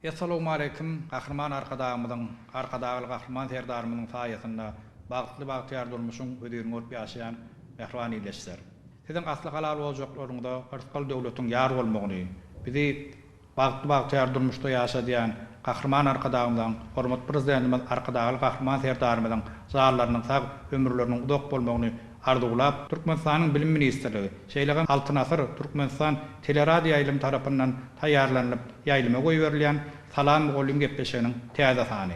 Essalowmaleýkim Gahryman Arkadagymyzyň, Arkadagly Gahryman Serdarymyzyň saýasynda bagtly bagtyýar durmuşyň hözirini görüp ýaşaýan mähriban ildeşler. Siziň asly halal ojaklaryňyza yrsgal döwletiň ýar bolmagyny, bizi bagtly bagtyýar durmuşda ýaşadýan Gahryman Arkadagymyzyň, Hormatly Prezidentimiz Arkadagly Gahryman Serdarymyzyň janlarynyň sag, ömürleriniň uzak bolmagyny Arzuwlap, Türkmenistanyň Bilim ministrligi, şeýle hem Altyn asyr Türkmenistan teleradioýaýlym tarapyndan taýýarlanylyp ýaýlyma goýberilýän Salam mugallym gepleşiginiň täze sany.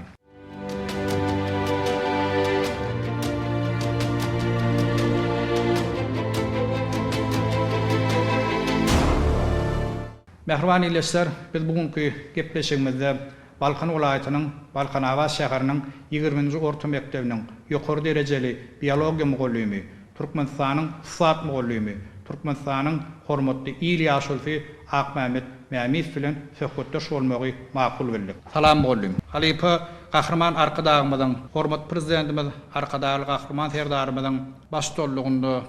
Mähriban ildeşler, biz bu günki gepleşigimizde Balkan welaýatynyň Balkanabat şäheriniň ýigriminji orta mekdebiniň ýokary derejeli biologiýa mugallymy, Türkmenistanyň ussat mugallymy, Türkmenistanyň hormatly il ýaşulysy Akmämmet Mämiýew bilen söhbetdeş bolmagy makul bildik. Salam mugallym! Halypa Gahryman Arkadagymyzyň, hormatly Prezidentimiz Arkadagly Gahryman Serdarymyzyň baştutanlygynda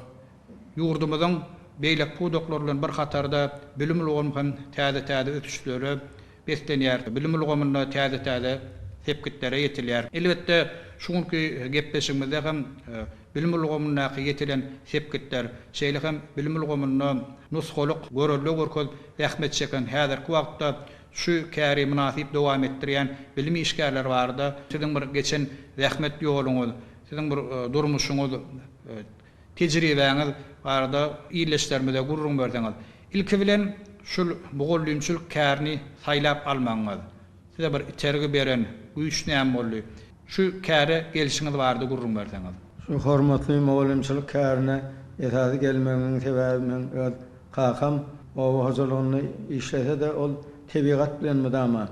Ýurdumyzyň beýleki pudaklar bilen bir hatarda bilim ulgamy hem täze-täze ösüşlere beslenýär, bilim ulgamynda täze-täze sepgitlere ýetilýär. Elbetde, şu günki gepleşigimizde hem bilim ulgamyndaky ýetilen sepgitler, şeýle hem bilim ulgamynda nusgalyk görelde görkezip zähmet çeken, häzirki wagtda şu käri mynasyp dowam etdirýän bilim işgärleri barada, siziň bir geçen zähmet ýoluňyz, siziň bir durmuşyňyz, Tejribäňiz barada ildeşlerimize gürrüň berseňiz. Ilki bilen şul mugallymçylyk kärini saýlap almagyňyz, size bir itergi beren güýç näme boldy? Şu käre gelşiňiz barada gürrüň berseňiz. Şu hormatly mugallymçylyk kärine esasy gelmegimiň sebäbi meň öz kakam oba hojalygynda işlese-de ol tebigat bilen mydama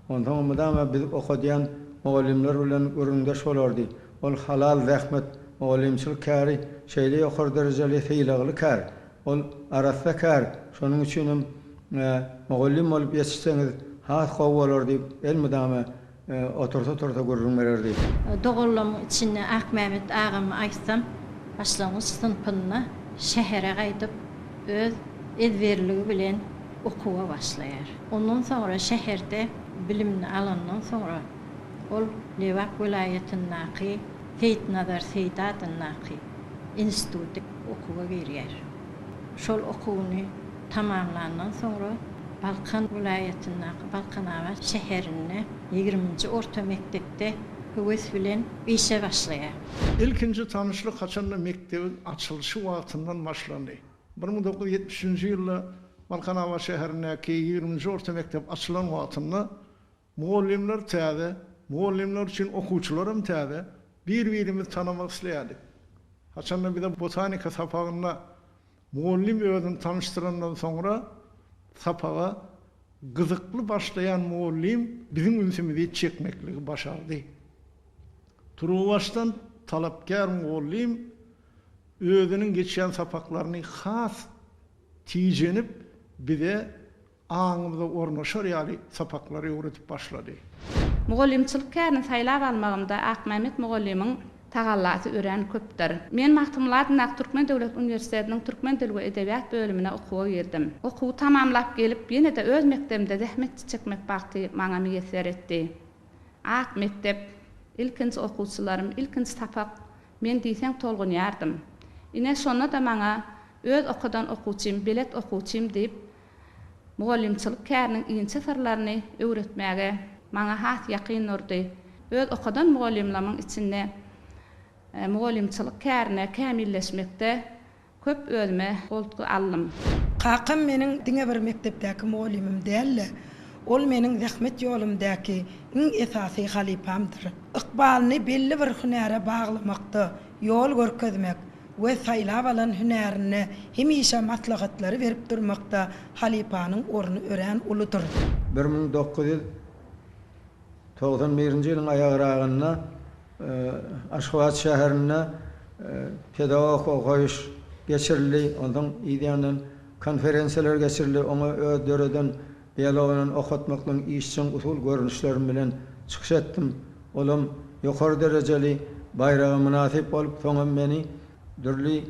Onsoň mydama biz okadýan mugallymlar bilen gürrüňdeş bolardy. Ol halal zähmet, mugallymçylyk käri şeýle ýokary derejeli sylagly kär. Ol arassa kär, şonuň üçinem mugallym bolup ýetişseňiz has gowy bolar diýip, elmydama otursa-tursa gürrüň bererdi. Doganlaryň içinde Akmämmet agamy aýtsam, başlangyç synpynda şähere gaýdyp, öz ezberligi bilen okuwa başlaýar. Ondan soňra şäherde bilimini alandan soňra, ol Lebap welaýatyndaky Seýitnazar Seýdi adyndaky instituty okuwa girýär. Şol okuwyny tamamlandan soňra, Balkan welaýatyndaky Balkanabat şäherinde ýigriminji orta mekdepde höwes bilen işe başlaýar. Ilkinji tanyşlyk haçanda mekdebiň açylyşy wagtyndan başlandy. Bir müň dokuz ýüz ýetmiş üçünji ýylda Balkanabat şäherindäki ýigriminji orta mekdep açylan wagtynda mugallymlar täze, mugallymlar üçin okuwçylaram täze, bir-birimizi tanamak isleýärdik. Haçanda bize botanika sapagynda mugallym özüni tanyşdyrandan soňra sapaga gyzykly başlaýan mugallym biziň ünsümizi çekmekligi başardy. Turuwbaşdan talapkär mugallym özüniň geçýän sapaklaryny has tijenip, bize aňymyza ornaşar ýaly sapaklary öwredip başlady. Mugallymçylyk kärini saýlap almagymda Akmämmet mugallymyň tagallasy örän köpdür. Men Magtymguly adyndaky Türkmen döwlet uniwersitetiniň türkmen dil we edebiýat bölümine okuwa girdim. Okuwy tamamlap gelip, ýene-de öz mekdebimde zähmet çekmek bagty maňa miýesser etdi. Ak mekdep, ilkinji okuwçylarym, ilkinji sapak, men diýseň tolgunýardym. Ine, şonda-da maňa öz okadan okuwçym, belet okuwçym diýip, mugallymçylyk käriniň inçe syrlaryny öwretmäge maňa has ýakyn durdy. Öz okadan mugallymlamyň içinde mugallymçylyk kärine kämilleşmekde Köp özüme goltgy aldym. Kakam meniň diňe bir mekdepdäki mugallymym däl-de, ol meniň zähmet ýolumdäki iň esasy halypamdyr. Ykbalyny belli bir hünäre baglamakda ýol görkezmek we saýlap alan hünärinde hemişe maslahatlary berip durmakda halypanyň orny örän uludyr. Bir müň dokuz ýüz Togsan birinji ýylyň aýagragynda Aşgabat şäherinde pedagogik okaýyş geçirildi. Onsoň yzýandan konferensiýalar geçirildi. Oňa öz döreden biologyndan okatmaklygyň işjeň usul görnüşlerim bilen çykyş etdim. Olam ýokary derejeli baýraga mynasyp bolup, soňam meni Dürli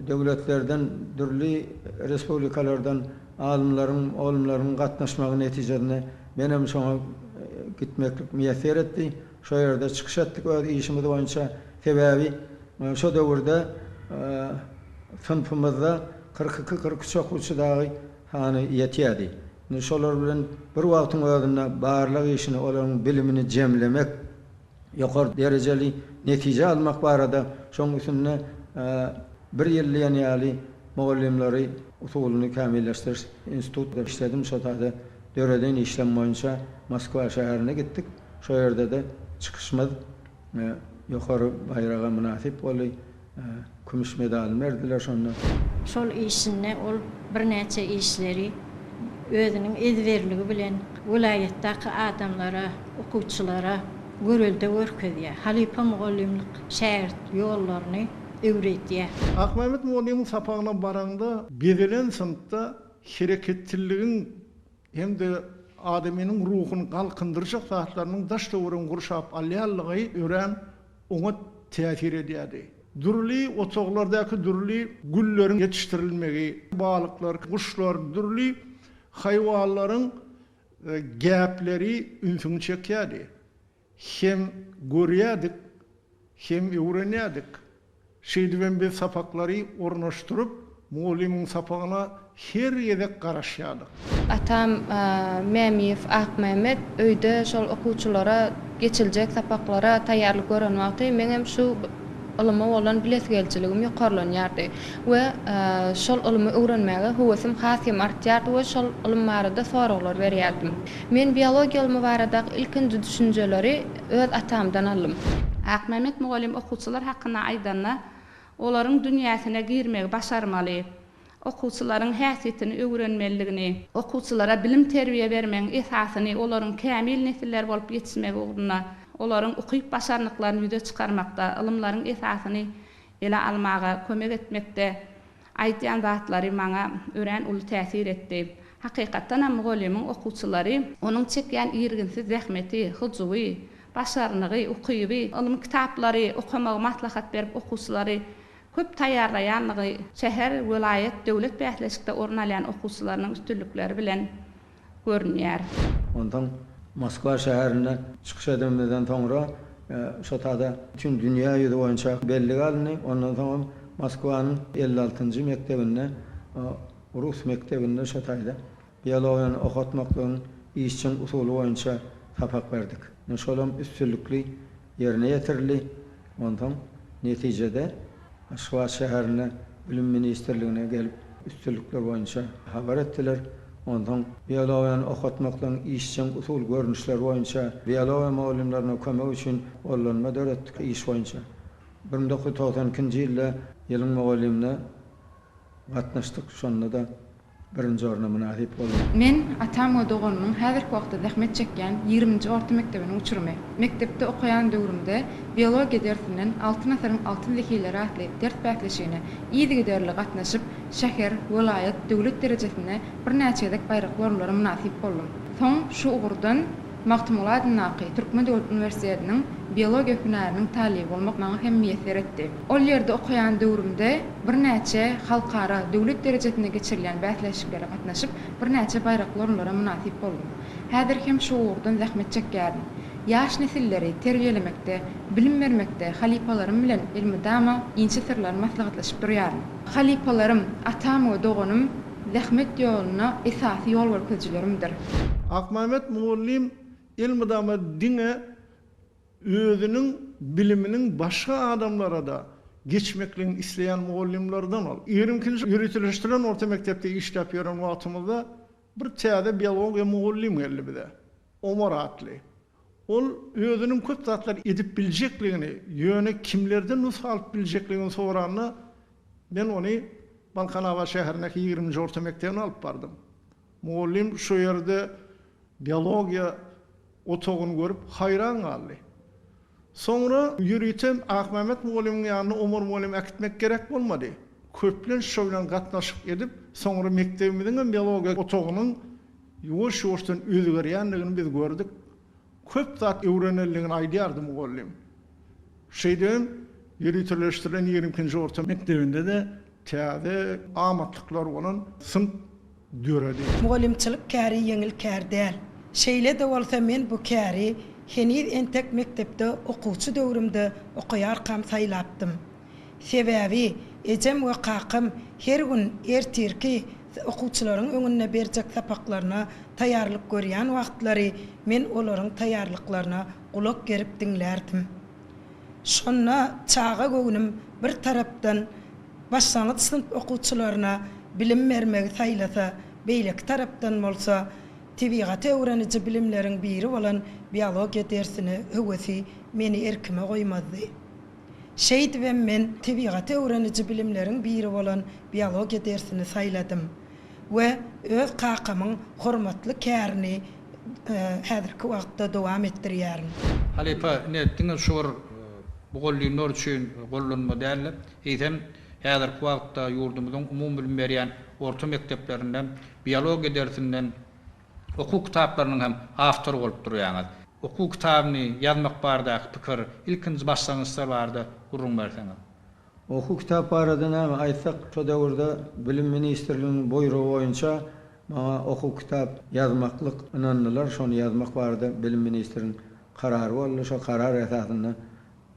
döwletlerden, dürli respublikalardan alymlaryň, olumlaryň gatnaşmagy netijesinde menem şoňa gitmeklik miýesser etdi. Şo ýerde çykyş etdik öz işimiz boýunça. Sebäbi şo döwürde synpymyzda kyrk iki, kyrk üç okuwçy dagy sany ýetýärdi. Indi şolar bilen bir wagtyň özünde barlag işini, olaryň bilimini jemlemek, ýokary derejeli netije almak barada, şoň üstünde bir ýyl diýen ýaly mugallymlary usulyny kämilleşdiriş institutynda işledim, şo taze döreden işim boýunça Moskwa şäherine gitdik, şo ýerde-de çykyşymyz ýokary baýraga mynasyp boldy. Kümüş medalyny berdiler şonda. Şol işinde ol birnäçe işleri özüniň ezberligi bilen welaýatdaky adamlara, okuwçylara görelde görkezýär, halypa mugallymlyk şägirt ýollaryny öwredýär. Akmämmet mugallymyň sapagyna baraňda, bezelen synpda hereketçilligiň hem-de adamynyň ruhuny galkyndyrjak zatlarynyň daş-töweregiňi gurşap alýanlygy örän oňat täsir edýärdi. Dürli otaglardaky dürli gülleriň ýetişdirilmegi, balyklar, guşlar, dürli haýwanlaryň gäpleri ünsüňi çekýärdi. Hem görýärdik, hem öwrenýärdik. Şeýdibem biz sapaklary ornaşdyryp, mugallymyň sapagyna her gezek garaşýardyk. Atam Mämiýew Akmämmet öýde şol okuwçylara geçiljek sapaklara taýýarlyk gören wagty meňem şu ylyma bolan bilesigelijiligim ýokarlanýardy we şol ylymy öwrenmäge höwesim has hem artýardy we şol ylym barada soraglar berýärdim. Men biologiýa ylmy baradaky ilkinji düşünjeleri Öz atamdan aldym. Akmämmet mugallym okuwçylar hakynda aýdanda, olaryň dünýäsine girmegi başarmaly, okuwçylaryň häsiýetini öwrenmelidigini, okuwçylara bilim-terbiýe bermegiň esasyny olaryň kämil nesiller bolup ýetişmegi ugrunda olaryň ukyp-başarnyklaryny ýüze çykarmakda, ylymlaryň esasyny ele almaga kömek etmekde Aýtýan zatlary maňa örän uly täsir etdi. Hakykatdan hem mugallymyň okuwçylary, onuň çekýän irginsiz zähmeti, hyjuwy, başarnygy, ukyby, ylmy kitaplary okamagy maslahat berip okuwçylary köp taýýarlaýanlygy şäher, welaýat, döwlet bäsleşikde orun alýan okuwçylarynyň üstünlikleri bilen görünýär. Onsoň Moskwa şäherinde çykyş edemizden soňra şo tada bütin dünýä ýüzi boýunça bellige alyndy. Ondan soňam Moskwanyň elli altynjy mekdebinde, rus mekdebinde şo taýda biologiýany okatmaklygyň işjeň usuly boýunça sapak berdik. Şolam üstünlikli ýerine ýetirildi. Onsoň netijede Aşgabat şäherine Bilim ministrligine gelip, üstünlikler boýunça habar etdiler. Onsoň biologiýany okatmaklygyň işjeň usul görnüşleri boýunça biologiýa mugallymlaryna kömek üçin gollanma döretdik iş boýunça. Bir müň dokuz ýüz togsan ikinji ýylda ýylyň mugallymyna gatnaşdyk, şonda-da birinji orna mynasyp boldy. Men, atam we doganymyň häzirki wagtda zähmet çekýän ýigriminji orta mekdebiniň uçurymy. Mekdepde okaýan döwrümde biologiýa dersinden Altyn asyryň altyn zehileri atly ders bäsleşigine yzygiderli gatnaşyp, şäher, welaýat, döwlet derejesinde birnäçe gezek baýrakly orunlara mynasyp boldum. Soň şu ugurdan. Magtymguly adyndaky Türkmen döwlet uniwersitetiniň biologiýa hünäriniň talyby bolmak maňa hem miýesser etdi. Ol ýerde okaýan döwrümde birnäçe halkara, döwlet derejesinde geçirilýän bäsleşiklere gatnaşyp, birnäçe baýrakly orunlara mynasyp boldum. Häzir hem şu ugurdan zähmet çekýärin. Ýaş nesilleri terbiýelemekde, bilim bermekde halypalarym bilen elmydama inçe syrlary maslahatlaşyp durýaryn. Halypalarym, atam we doganym Zähmet ýoluna esasy ýol görkezijilerimdir. Akmämmet mugallym elmydama diňe özüniň biliminiň başga adamlara-da geçmekligini isleýän mugallymlardan ol. Ýörüňkinji ýöriteleşdirilen orta mekdepde işläp ýören wagtymyzda bir täze biologiýa mugallym geldi bize. Omar atly. Ol özüniň köp zatlar edip biljekligini, ýöne kimlerden nusga alyp biljekligini soranda, men ony Balkanabat şäherindäki ýigriminji orta mekdebine alyp bardym. Mugallym şo ýerde biologiýa otagyny görüp, haýran galdy. Soňra ýörite Akmämmet mugallymyň ýanyna Omar mugallymy äkitmek gerek bolmady. Köplenç şo bilen gatnaşyk edip, soňra mekdebimiziň hem biologiýa otagynyň Ýuwaş-ýuwaşdan özgerýändigini biz gördük. Köp zat öwrenendigini aýdýardy mugallym. Şeýdibem, ýöriteleşdirilen ýigrimi ikinji orta mekdebinde-de täze amatlyklar bolan synp döredi. Mugallymçylyk käri ýeňil kär däl. Şeýle-de bolsa men bu käri heniz entek mekdepde okuwçy döwrümde okaýarkam saýlapdym. Sebäbi, ejem we kakam her gün ertirki okuwçylaryň öňünde berjek sapaklaryna taýýarlyk görýän wagtlary men olaryň taýýarlyklaryna gulak gerip diňlärdim. Şonda çaga göwnüm bir tarapdan başlangyç synp okuwçylaryna bilim bermegi saýlasa, beýleki tarapdan bolsa, tebigaty öwreniji bilimleriň biri bolan biologiýa dersine höwesi meni erkime goýmazdy. Şeýdibem men tebigaty öwreniji bilimleriň biri bolan biologiýa dersini saýladym we öz kakamyň hormatly kärini häzirki wagtda dowam etdirýärin. Halypa, ine, diňe şu bir mugallymlar üçin gollanma däl-de, eýsem, häzirki wagtda ýurdumyzyň umumybilim berýän orta mekdeplerinde biologiýa dersinden Okuw kitaplarynyň hem awtory bolup durýaňyz. Okuw kitabyny ýazmak bardaky pikir, ilkinji başlangyçlar barada gürrüň berseňiz? Okuw kitap barada näme aýtsak, şo döwürde Bilim ministrliginiň buýrugy boýunça maňa okuw kitap ýazmaklyk ynandylar. Şony ýazmak barada bilim ministriniň karary boldy. Şo karar esasynda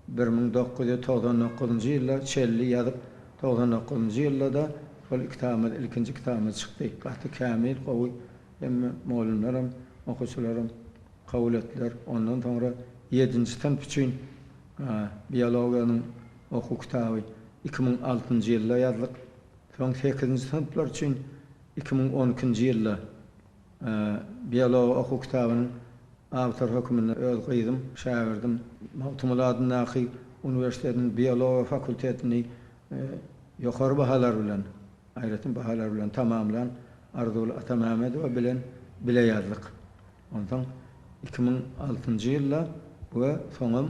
Bir müň dokuz ýüz togsan dokuzynjy ýylda çelli ýazyp, togsan dokuzynjy ýylda-da şol iki kitabymyz, ilkinji kitabymyz çykdy. Gaty kämil, gowy. Hemme mugallymlaram, okuwçylaram kabul etdiler. Ondan soňra ýedinji synp üçin biologiýanyň okuw kitaby iki müň altynjy ýylda ýazdyk. Soň sekizinji synplar üçin iki müň on ikinji ýylda Biology okuw kitabynyň awtory hökmünde öz gyzym, şägirdim Magtymguly adyndaky uniwersitetiniň biologiýa fakultetini ýokary bahalar bilen, aýratyn bahalar bilen tamamlan Arzuwly Atamämmedowa bilen bile ýazdyk. Onsoň iki müň altynjy ýylda we soňam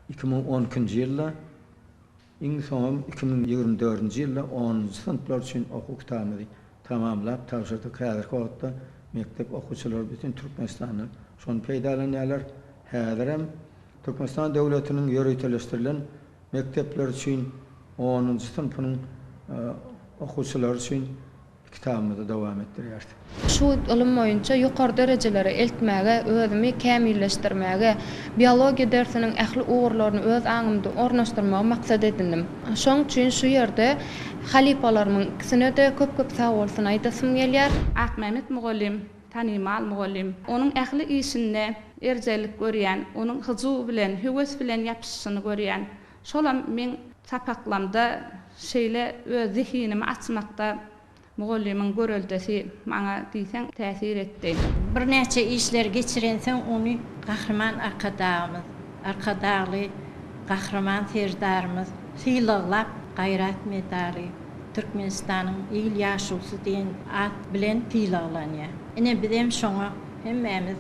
iki müň on ikinji ýylda, Iň soňam iki müň ýigrimi dördünji ýylda onunjy synplar üçin okuw kitabymyzy tamamlap tabşyrdyk. Häzirki wagtda mekdep okuwçylary bütin Türkmenistanda şony peýdalanýarlar. Häzirem Türkmenistan döwletiniň ýöriteleşdirilen mekdepleri üçin onunjy synpynyň okuwçylary üçin Kitabymyzy dowam etdirýäris. Şu ylym boýunça ýokary derejelere eltmäge, özümi kämilleşdirmäge, biologiýa dersiniň ähli ugurlaryny öz aňymda ornaşdyrmagy maksat edindim. Şoň üçin şu ýerde halypalarymyň ikisine-de köp-köp sagbolsun aýdasym gelýär. Akmämmet mugallym, tanymal mugallym. Onuň ähli işinde erjellik görýän, onuň hyjuw bilen, höwes bilen ýapyşyşyny görýän. Şolam meň sapaklamda şeýle öz zehinimi açmakda mugallymyň göreldesi maňa diýseň täsir etdi. Birnäçe işleri geçirensoň ony Gahryman Arkadagymyz, Arkadagly Gahryman Serdarymyz sylaglap Gaýrat medaly, Türkmenistanyň il ýaşulusy diýen at bilen sylaglanýar. Ine bizem şoňa Hemmämiz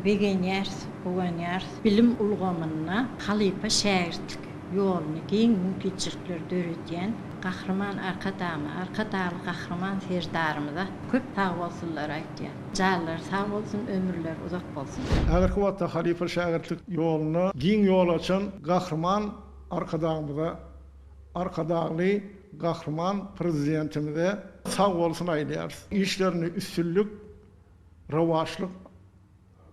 begenýäris, guwanýarys. Bilim ulgamynda halypa-şägirtlik ýoluny giň mümkinçilikleri döredýän Gahryman Arkadagymyza, Arkadagly Gahryman Serdarymyza köp sagbolsunlary aýtýan. Janlary sag bolsun, ömürleri uzak bolsun! Häzirki wagtda halypa-şägirtlik ýoluna giň ýol açan Gahryman Arkadagymyza, Arkadagly Gahryman Prezidentimize sag bolsun aýdýarys. Işlerinde üstünlik, rowaçlyk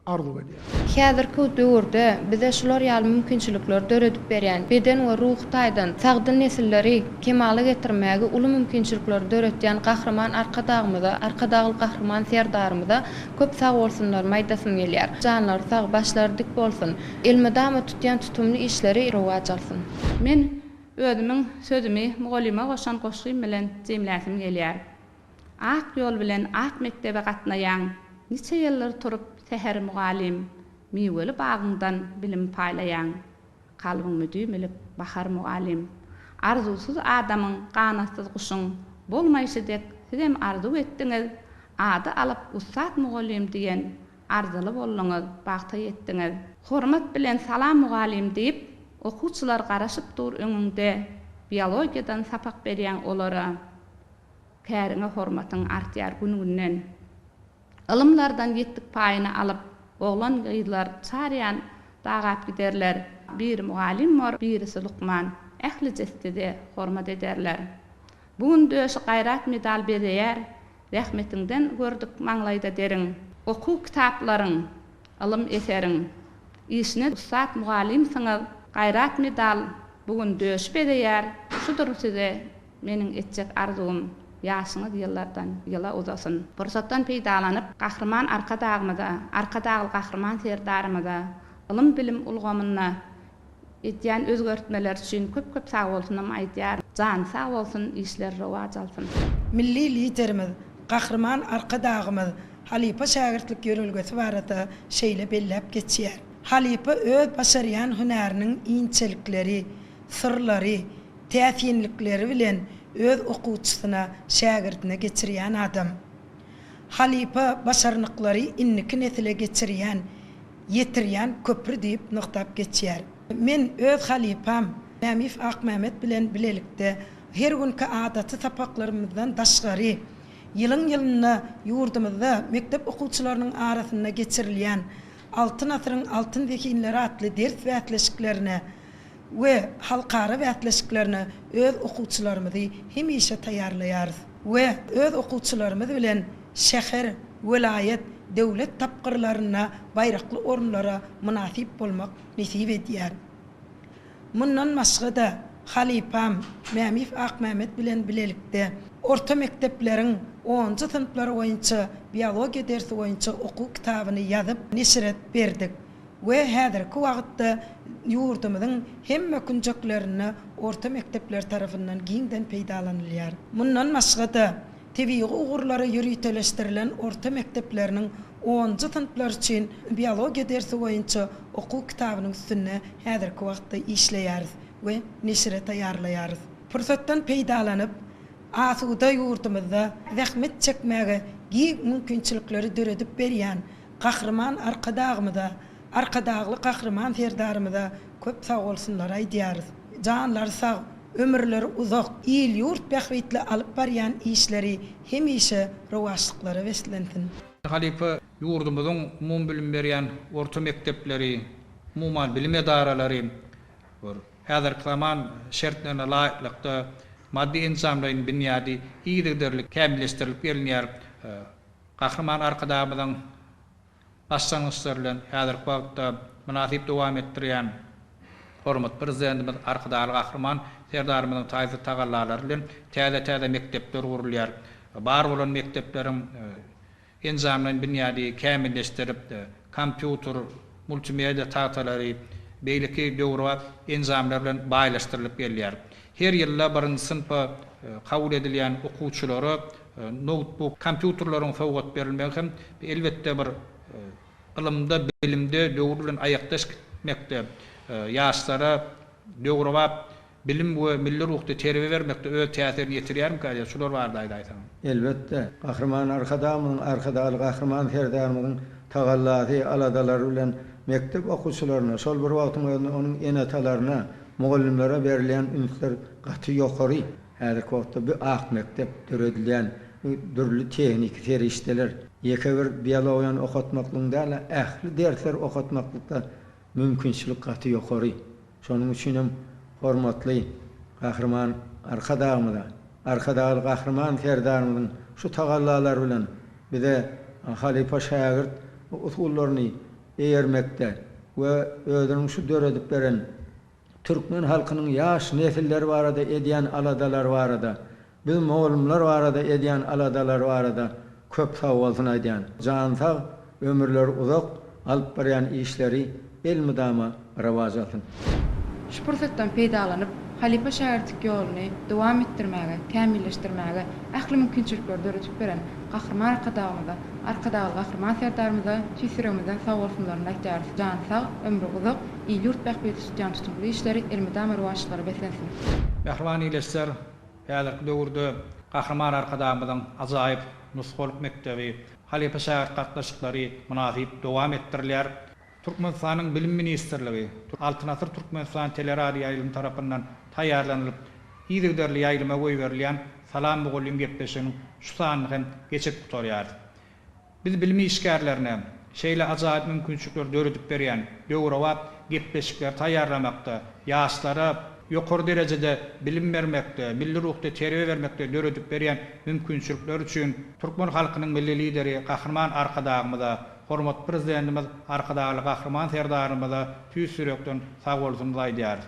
arzuw edýäris. Häzirki döwürde bize şular ýaly mümkinçilikleri döredip berýän, beden we ruhy taýdan sagdyn nesilleri kemala getirmäge uly mümkinçilikleri döretýän Gahryman Arkadagymyza, Arkadagly Gahryman Serdarymyza köp sag bolsunlarymy aýdasym gelýär. Janlary sag, başlary dik bolsun. Elmydama tutýan tutumly işleri rowaç alsyn. Men özümiň sözümi mugallyma goşan goşgym bilen jemläsim gelýär. Ak ýol bilen ak mekdebe gatnaýaň Niçe ýyldyr turup säher mugallym Miweli bagyňdan bilim paýlaýaň Kalbyň müdüm ilip bahar mugallym Arzuwsyz adamyň ganatsyz guşuň Bolmaýşy dek sizem arzuw etdiňiz Ady alyp ussat mugallym diýen Arzyly bolduňyz bagta ýetdiňiz. Hormat bilen salam mugallym diýip okuwçylar garaşyp dur öňüňde biologiýadan sapak berýäň olara. Käriňe hormatyň artýar gün-günden. Ylymlardan ýetdik paýyny alyp, oglan-gyzlar çarýan dagap giderler. Biri mugallym bor, birisi lukman, ählije sizi hormat ederler. Bu gün döşi Gaýrat medal bezeýär, zähmetiňden gördük maňlaýda deriň. Okuw kitaplaryň, ylym eseriň işine ussat mugallymsyňyz, Gaýrat medal bu gün döşi bezeýär, şudur size Meniň etjek arzuwym, ýaşyňyz ýyllardan ýyla uzasyn! Pursatdan peýdalanyp, Gahryman Arkadagymyza, Arkadagly Gahryman Serdarymyza ylym-bilim ulgamynda edýän özgertmeleri üçin köp-köp sagbolsunymy aýdýaryn. Jany sag bolsun, işleri rowaç alsyn! Milli Liderimiz, Gahryman Arkadagymyz halypa-şägirtlik ýörelgesi barada şeýle belläp geçýär, Halypa öz başarýan hünäriniň inçelikleri, syrlary, täsinlikleri bilen öz okuwçysyna, şägirdine geçirýän adam. Halypa başarnyklary indiki nesile geçirýän, ýetirýän köpri diýip nygtap geçýär. Men öz halypam Mämif Akmämmet bilen bilelikde her günki adaty sapaklarymyzdan daşgary, ýylyň-ýylyna ýurdumyzda mekdep okuwçylarynyň arasynda geçirilýän Altyn asyryň altyn zehinleri atly ders bäsleşiklerine, we halkara bäsleşiklerine öz okuwçylarymyzy hemişe taýýarlaýarys we öz okuwçylarymyz bilen şäher, welaýat, döwlet tapgyrlarynda baýrakly orunlara mynasyp bolmak nesip edýär. Mundan başga-da, halypam Mämiýew Akmämmet bilen bilelikde orta mekdepleriň onunjy synplary boýunça biologiýa dersi boýunça okuw kitabyny ýazyp neşire berdik. we häzirki wagtda ýurdumyzyň hemme künjeklerinde orta mekdepler tarapyndan giňden peýdalanylýar. Mundan başga-da, tebigy ugurlara ýöriteleşdirilen orta mekdepleriniň onunjy synplar üçin biologiýa dersi boýunça okuw kitabynyň üstünde häzirki wagtda işleýäris we neşire taýýarlaýarys. Pursatdan peýdalanyp, asuda ýurdumyzda zähmet çekmäge giň mümkinçilikleri döredip berýän Gahryman Arkadagymyza, Arkadagly Gahryman Serdarymyza köp sagbolsunlar aýdýarys. Janlary sag, ömürleri uzak, il-ýurt bähbitli alyp barýan işleri hemişe rowaçlyklara beslensin! Halypa ýurdumyzyň umumybilim berýän orta mekdepleri, umuman bilim edaralary häzirki zaman şertlerine laýyklykda maddy-enjamlaýyn binýady yzygiderli kämilleşdirilip gelinýär. Gahryman Arkadagymyzyň başlangyçlary bilen häzirki wagtda mynasyp dowam etdirýän hormatly Prezidentimiz Arkadagly Gahryman Serdarymyzyň taýsyz tagallalary bilen täze-täze mekdepler gurulýar, bar bolan mekdepleriň enjamlaýyn binýady kämilleşdirip, kompýuter, multimedia tagtalary, beýleki döwrebap enjamlar bilen baýlaşdyrylyp gelýär. Her ýylda birinji synpa kabul edilýän okuwçylara Noutbuk, kompýuterleriň sowgat berilmegi hem, elbetde, bir ylymda, bilimde döwür bilen aýakdaş gitmekde, ýaşlara döwrebap bilim we milli ruhda terbiýe bermekde öz täsirini ýetirýärmikä diýýän, şular barada aýdaýsaň? Elbetde, Gahryman Arkadagymyzyň, Arkadagly Gahryman Serdarymyzyň tagallasy, aladalary bilen mekdep okuwçylaryna, şol bir wagtyň özünde onuň ene-atalaryna, mugallymlara berilýän ünsler gaty ýokary. Häzirki wagtda bu ak mekdep döredilýän bu dürli tehniki serişdeler ýeke bir biologiýany okatmaklygyň däl-de, ähli dersleri okatmaklykda mümkinçilik gaty ýokary. Şonuň üçin hem hormatly Gahryman Arkadagymyza, Arkadagly Gahryman Serdarymyzyň şu tagallalary bilen bize halypa-şägirt usullaryny eýermekde we özüniň şu döredip beren Türkmen halkynyň ýaş nesilleri barada edýän aladalary barada, biz mugallymlar barada edýän aladalary barada köp sagbolsun aýdýan. Jany sag, ömürleri uzak, alyp barýan işleri elmydama rowaç alsyn. Şu pursatdan peýdalanyp, halypa-şägirtlik ýoluny dowam etdirmäge, kämilleşdirmäge ähli mümkinçilikleri döredip beren Gahryman Arkadagymyza, Arkadagly Gahryman Serdarymyza tüýs ýüregimizden sagbolsunlaryny aýdýarys, jany sag, ömri uzak, Il-ýurt bähbidi tutýan tutumly işleri elmydama rowaçlyklara beslensin! Mähriban ildeşler, häzirki döwürde Gahryman Arkadagymyzyň ajaýyp nusgalyk mekdebi, halypa-şägirt gatnaşyklary mynasyp dowam etdirilýär. Türkmenistanyň Bilim ministrligi, Altyn asyr Türkmenistan teleradioýaýlymy tarapyndan taýýarlanylyp, yzygiderli ýaýlyma goýberilýän Salam mugallym gepleşiginiň şu sanyny hem geçirip gutarýarys. Biz bilim işgärlerine şeýle ajaýyp mümkinçilikleri döredip berýän döwrebap gepleşikleri taýýarlamakda, ýaşlara ýokary derejede bilim bermekde, milli ruhda terbiýe bermekde döredip berýän mümkinçilikleri üçin türkmen halkynyň Milli Lideri Gahryman Arkadagymyza, hormatly Prezidentimiz Arkadagly Gahryman Serdarymyza tüýs ýürekden sagbolsunyzy aýdýarys.